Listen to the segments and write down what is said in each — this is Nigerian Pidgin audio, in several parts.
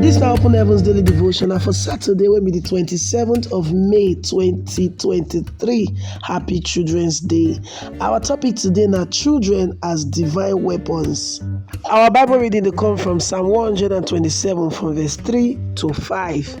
This na Open Heavens Daily Devotion na for Saturday wey be the 27th of May 2023. Happy Children's Day. Our topic today na children as divine weapons. Our Bible reading dey come from Psalm 127 from verse 3 to 5.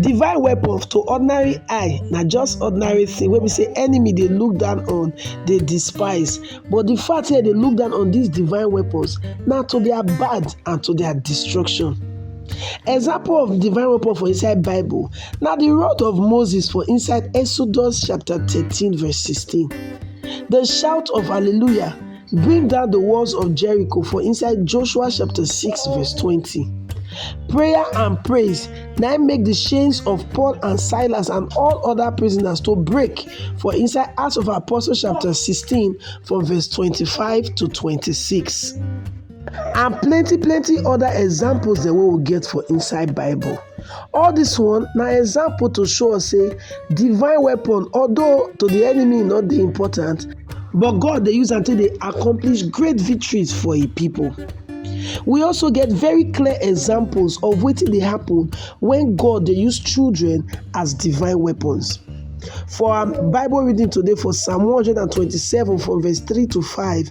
Divine weapons to ordinary eye na just ordinary thing wey be say enemy dey look down on, dey despise. But the fact here dey look down on these divine weapons na to their bad and to their destruction. Example of divine weapon for inside Bible na the rod of Moses for inside Exodus chapter 13 verse 16. The shout of hallelujah Bring down the walls of Jericho for inside Joshua chapter 6 verse 20. Prayer and praise now make the chains of Paul and Silas and all other prisoners to break for inside Acts of Apostles chapter 16 for verse 25 to 26. and plenty plenty other examples dem wey we get for inside bible all this one na example to show us say divine weapon although to the enemy e no dey important but god dey use am take dey accomplish great victories for e people we also get very clear examples of wetin dey happen when god dey use children as divine weapons for our bible reading today for psalm 127 from verse 3 to 5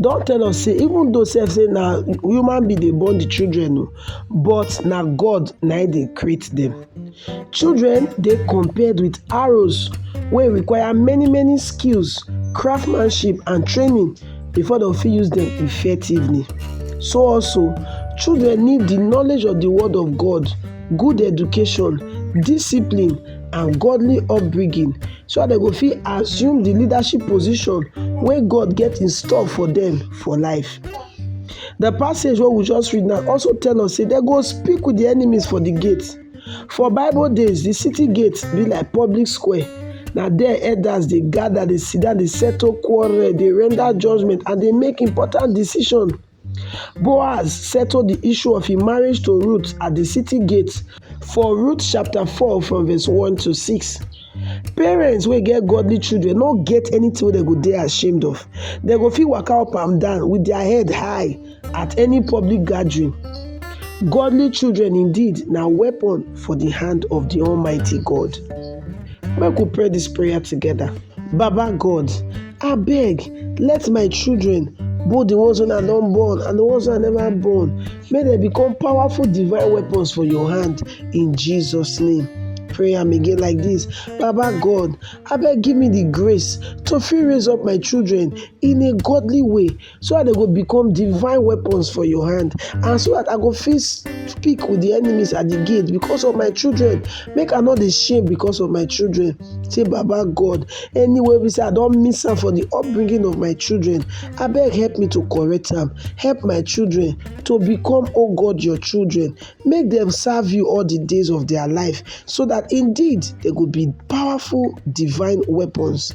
don tell us say even though sef say na human being dey born the children o but na God na im dey create them. Children dey compared with arrows wey require many many skills, craftsmanship and training before dem fit use them effectively. So also children need the knowledge of the word of God, good education, discipline and godly upbringing so that dem go fit assume the leadership position wey God get in store for them for life. The passage wey we just read now also tell us say dem go speak with the enemies for the gate. For Bible days, the city gate be like public square. Na there elders dey gather, dey sit down, dey settle quarrel, dey render judgment, and dey make important decision. Boaz settled the issue of his marriage to Ruth at the city gate for Ruth chapter 4 from verse 1 to 6. Parents wey get godly children no get anything wey dem go dey ashamed of. Dem go fit waka up and down with their head high at any public gathering. Godly children indeed na weapon for the hand of the Almighty God. Make we pray this prayer together. Baba God, Abeg, let my children, both the ones wey I don born and the ones wey I never born, make dem become powerful divine weapons for your hand in Jesus' name. Pray am again like this Baba God, abeg give me the grace to fit raise up my children in a godly way, so that they go become divine weapons for your hand and so that i go fit speak with the enemies at the gate because of my children make i no dey shame because of my children say baba god anywhere we say i don miss am for the upbringing of my children I beg help me to correct am help my children to become oh god your children make them serve you all the days of their life so that indeed they go be powerful divine weapons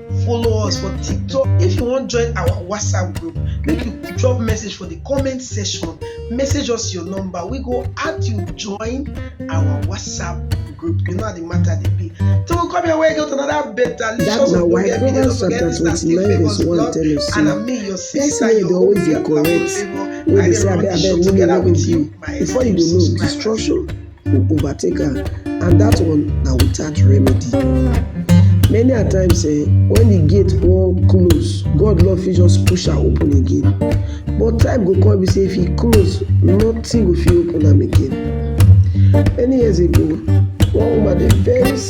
follow us for tiktok if you wan join our whatsapp group make you drop message for the comment section message us your number we go add you join our whatsapp group you know how the matter dey be so we come your way go to another better That delicious na why ogbonge video Proverbs don't forget chapter this na still 29 favours verse 1 blog tell us and say, na me your sister Person wey dey your always dey own correct, favour wey I dey dey say run abeg the abeg show no together move with you you my before you go know subscribers. destruction go overtake am and that one na without remedy. Many a times eh, when the gate wan close, God love fit just push am open again. But time go come be say if e close, nothing go fit open am again. Many years ago, one woman dey very sick.